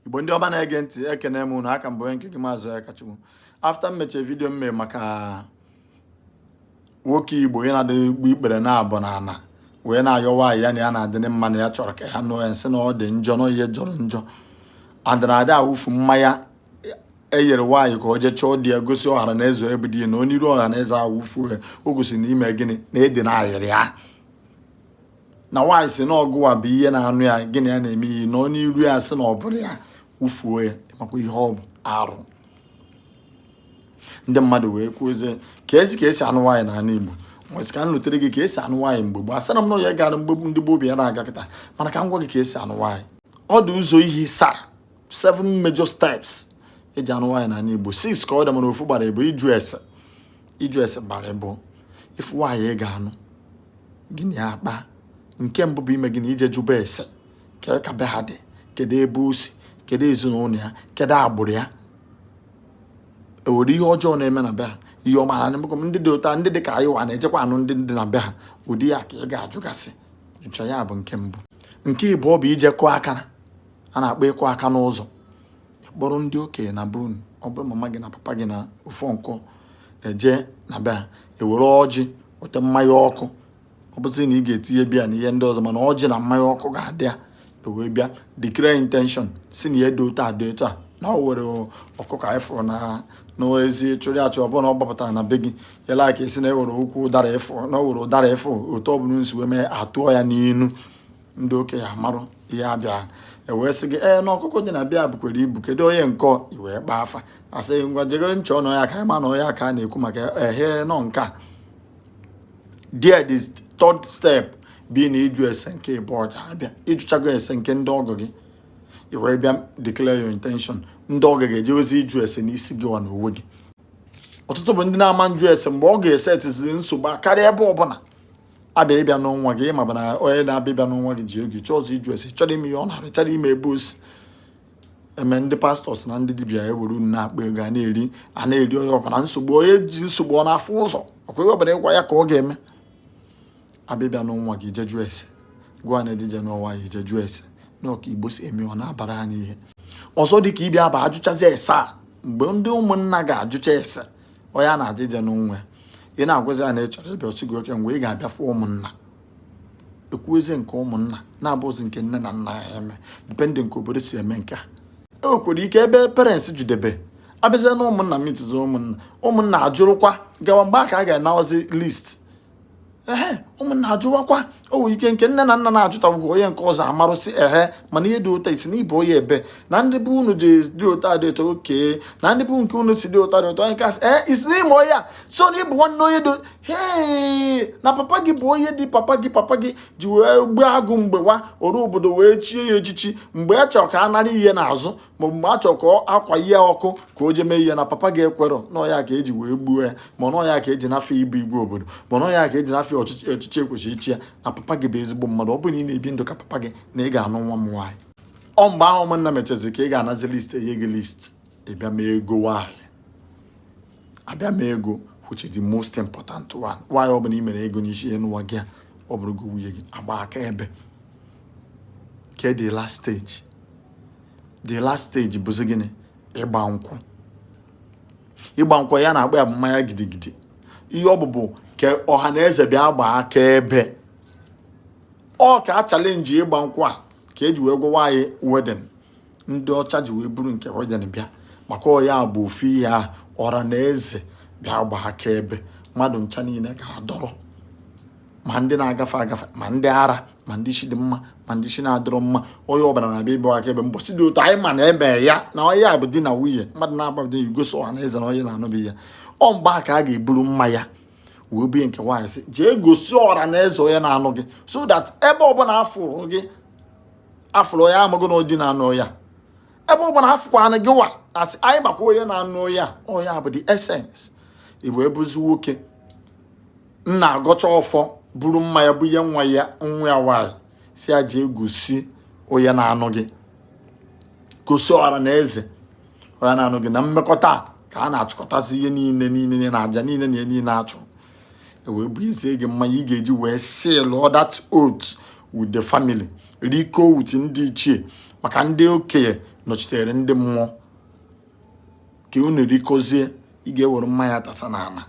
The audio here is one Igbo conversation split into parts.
igbo ndị ọma na-ege ntị ekene m unu a ka m bụ nke gị maazị akachukwu after m mechie video m mee maka nwoke igbo ya na-adị egbu ikpere naabọ n'ana wee na-ayọ nwaanyị ya na ya na-adị mma na ya chọrọ ka ya nụọ ya m sị na ọ dị njọ na ihe jọrọ njọ anadị awụfu mmanya eyere nwaanyị ka o jee chọọ di ya gosi ọhara na eze ebe di ya nọ n'iru ọha na eze a wụfuo ya o gosi na ime gịnị na edi na ayịrị ya na nwaanyị sị na ọ gịwa bụ ihe na-anụ ya gị na ya na-eme ihe nọ n'iru ya sị na ọ bụrụ ya wụfuo ya makwa ihe ọ bụ arụ ndị mmadụ wee kwuzie ka esi ka esi anụ nwaanyị n'ala Igbo m wee sị ka m butere gị ka esi anụ nwaanyị mgbe gboo asịrọ m na ihe gara mgbe ndị gboo bụ ihe na-aga kịta mana ka m gwa gị ka esi anụ nwaanyị ọ dị ụzọ ihe isaa seven major steps eji anụ nwaanyị n'ala Igbo six ka ọ dị mana ofu gbara ịbụọ ịjụ ese ịjụ ese gbara ịbụọ ị fụ nwaanyị ị ga-anụ gị na ya akpa nke mbụ bụ ime gịnị ije jụba ese kee ka be ha dị kedu ebe o si kedu ezinụlọ ya kedu agbụrụ ya o were ihe ọjọọ na-eme na be ha ị ma na ndị dị otu a ndị dị ka anyị wa na-ejekwa anụ ndị dị na be ha ụdị ihe a ka ị ga-ajụgasịcha ya bụ nke mbụ nke ịbụọ bụ ije kụọ aka a na-akpọ ịkụ aka n'ụzọ kpọrọ ndị okenye na be unu ọ bụrụ mama gị na papa gị na ofu uncle eje na be ha ewere ọjị weta mmanya ọkụ ọ bụzi na ị ga-etinye beer na ihe ndị ọzọ mana ọjị na mmanya ọkụ ga-adị ya ewee bịa declare intention sị na ihe dị otu a dị otu a na ọ were ọkụkọ anyị fụrụ na n'ezi chụrụ achụ ọ bụrụ na ọ gbapụtara na be gị e were ike sị na ewere ukwu ụdara ị fụ na ọ were ụdara ị fụ otu ọ bụla e si wee mee a tụọ ya n'inu ndị okenye amarụ ihe a bịa ewee sị gị ee na ọkụkọ dị na be a bukwara ibu kedu onye nke ọ ị wee kpaa afa a sị ngwa jee gere ntị ọnụ ya ka a ma na ọ ya ka a na-ekwu maka ehe now nke atọ the third step bụ na ịjụ ese nke ịbụọ ga-abịa ị jụchago ese nke ndị ọgọ gị ị wee bịa declare your intention ndị ọgọ ga-ejezi ịjụ ese n'isi gị wa n'onwe gị ọtụtụ bụ ndị na-ama ajụ ese mgbe ọ ga-ese etiziri nsogbu karịa ebe ọbụla abịa ịbịa nụọ nwa gị ị maba na onye na-abịa ịbịa nụọ nwa gị ji oge chọọ ụzọ ịjụ ese chọọ ịma ihe ọ na-arụ chọọ ịma ebe o si eme ndị pastors na ndị dibịa ewere unu na-akpa ego a na-eri a na-eri onye ọbụla nsogbu onye ji nsogbu ọ na-afụ ụzọ ọ kwa ihe ọbụla ị gwa ya ka ọ ga-eme a bịa ịbịa nụọ nwa gị jee jụọ ese gịwa na-eje ije nụọ nwa ya jee jụọ ese na ọ ka igbo si eme ọ na-abara anyị ihe ọzọ dị ka ịbịa bụ a jụchazi ese a mgbe ndị ụmụnna ga-ajụcha ese onye a na-eje ije nụọ nwa ya ị na-agwazi ya na ị chọrọ ịbịa ọ sị gị okay mgbe ị ga-abịa fụ ụmụnna ekwuzi nke ụmụnna na-abụzi nke nne na nna ya eme depending ka obodo si eme nke a e nwekwara ike ebe parents jedebe abịazie na ụmụnna mitụzi ụmụnna ụmụnna ajụrụkwa gawa mgbe a ka a ga-anaozi list ehe ụmụnna ajụwakwa o nwere ike nke nne na nna na-ajụtabụghị onye nke ọzọ amarụ sị ehe mana ihe dị otu a ị sị na ị bụ onye ebe a na ndị be unu ji dị otu a dị otu a oke na ndị be nke unu si dị otu a dị otu a nke a sị ee ị sị na ị ma onye so na ị bụ nwanne onye dị hee na papa gị bụ onye dị papa gị papa gị ji wee gbuo agụ mgbe wa oru obodo wee chie ya echichi mgbe a chọrọ ka a nara ihe n'azụ maọbụ mgbe a chọrọ ka akwa ihe ọkụ ka o je mee ihe na papa gị ekwerọ na ọ ya ka e ji wee gbuo ya ma na ọ ya ka e ji nafụ ya ịbụ igwe obodo ma na ọ ya ka e ji nafụ ya ọchịchị echichi e kwesịrị ichi ya na papa gị bụ ezigbo mmadụ ọ bụrụ na ị na-ebi ndụ ka papa gị na ị ga-anụ nwa m nwaanyị ọ mgbe ahụ ụmụnna mechazi ka ị ga-anazi list enye gị list ị bịa mee ego nwaanyị abịa mee ego which is the most important one nwaanyị ọ bụla ị mere ego n'isi n'ụwa gị a ọ bụrụ gị nwunye gị agbaa akaebe ke the last stage the last stage bụzi gịnị ịgba nkwụ ịgba nkwụ ihe a na-akpọ ya bụ mmanya gidigidi ihe ọ bụ bụ ka ọha na eze bịa gbaa akaebe ọ ka a challenge ịgba nkwụ a ka e ji wee gwawa anyị wedding ndị ọcha ji wee buru nke wedding bịa maka ọ ya bụ ofu ihe a ọra na eze bịa gbaa akaebe mmadụ ncha niile ga-adọrọ ma ndị na-agafe agafe ma ndị ara ma ndị isi dị mma ma ndị isi na-adịrọ mma onye ọbụla na-abịa ịbụ akaebe mbọsị dị otu a anyị ma na onye a na onye a bụ di na nwunye mmadụ na-agba dị igosi ọha na eze na onye na-anụbi ya ọ mgbe a ka a ga-eburu mmanya wee bunye nke nwaanyị sị jee gosi ọra na eze onye na-anụ gị so that ebe ọbụla a fụrụ gị a fụrụ onye amarụ na ọ di na-anụ ya ebe ọbụla a fụkwanụ gị nwa a sị anyị makwa onye na-anụ ya onye a bụ the essence igbo ebuzi nwoke nna agọcha ọfọ buru mmanya bunye nwa ya nwa ya nwaanyị sị ya jee gosi onye na-anụ gị gosi ọra na eze onye na-anụ gị na mmekọta a ka a na-achịkọtasị ihe niile niile na aja niile na ihe niile a chụrụ e wee bunyezie gị mmanya ị ga-eji wee seal all that oath with the family rikọọ with ndị ichie maka ndị okenye nọchitere ndị mmụọ ka unu rikọzie ị ga-ewere mmanya tasa n'ala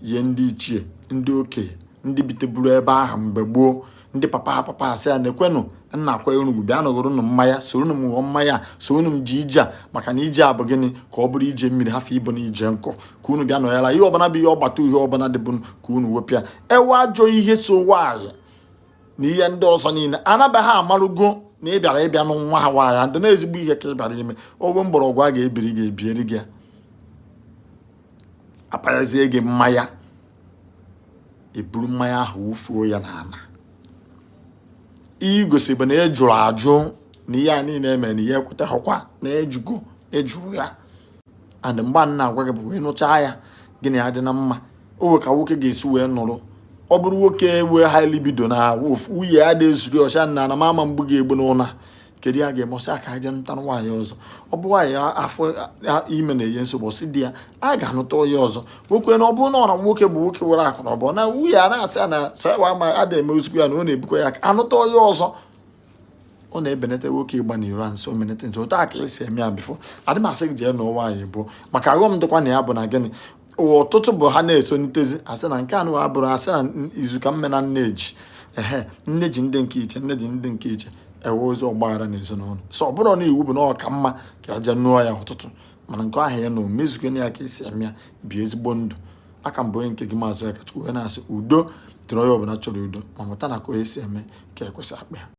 nye ndị ichie ndị okenye ndị biteburu ebe ahụ mgbe gboo ndị papa ha papa ha sị ya na-ekwenụ nna akwa enugwu bịa nọgoro unu mmanya soro unu m ṅụọ mmanya soro unu m jee ije a maka na ije a bụ gịnị ka ọ bụrụ ije mmiri hafụ ịbụnụ ije nkụ ka unu bịa nọyara ihe ọbụla bụ ihe ọgbata uhie ọbụla dịbụ ka unu wepịa e nwee ajọ ihe so nwaanyị na ihe ndị ọzọ niile anaba ha amarugo na ị bịara ịbịa nụ nwa ha nwaanyị and na ezigbo ihe ka ị bịara ime ogwe mgbọrọgwụ a ga-ebiri gị ebieri gị apanyezie gị mmanya i buru mmanya ahụ wufuo ya n'ala ihe o gosi bụ na ị jụrụ ajụ na ihe a niile eme na i kwetaghịkwa na ị jụgo ị jụrụ ya and mgbe a na-agwa gị bụ ịṅụcha ya gị na-adị na mma o nwe ka nwoke ga-esi wee nụrụ ọ bụrụ nwoke nwee high libido na nwunye ya dị ezuri ọcha na na mama mgbu ga-egbu n'ụla kedu ihe a ga-eme ọ sị ka a je nụta nwaanyị ọzọ ọ bụ nwaanyị afọ ime na-enye nsogbu ọ sị di ya a ga-anụta onye ọzọ nwoke na ọ bụrụ na ọ na nwoke bụ nwoke nwere akụ na ụba na nwunye ya na-asị ya na sawa ma a na-eme ozugbo ya na ọ na-ebukwa ya ka a nụta onye ọzọ ọ na-ebenata nwoke ịgba n'iro so menete nso otu a ka e si eme ya before adị m asị gị jee nụọ nwaanyị abụọ maka aghọm dịkwa na ya bụ na gịnị ụwa ọtụtụ bụ ha na-esonitezi asị na nke anụ abụrụ asị na izu ka mma na nne ji ehe nne ji ndị nke iche nne ji ndị nke iche e nwezie ọgbaghara n'ezinụlọ so ọ bụrụ na iwu bụ na ọ ka mma ka a jee nụọ ya ọtụtụ mana nke ahụ ya na o mezugo ya ka e si eme ya bi ezigbo ndụ a ka m bụ onye nke gị Maazị Akachukwu wee na-asị udo dịrị onye ọbụla chọrọ udo ma mụta na ka onye si eme ka ekwesị akpa ya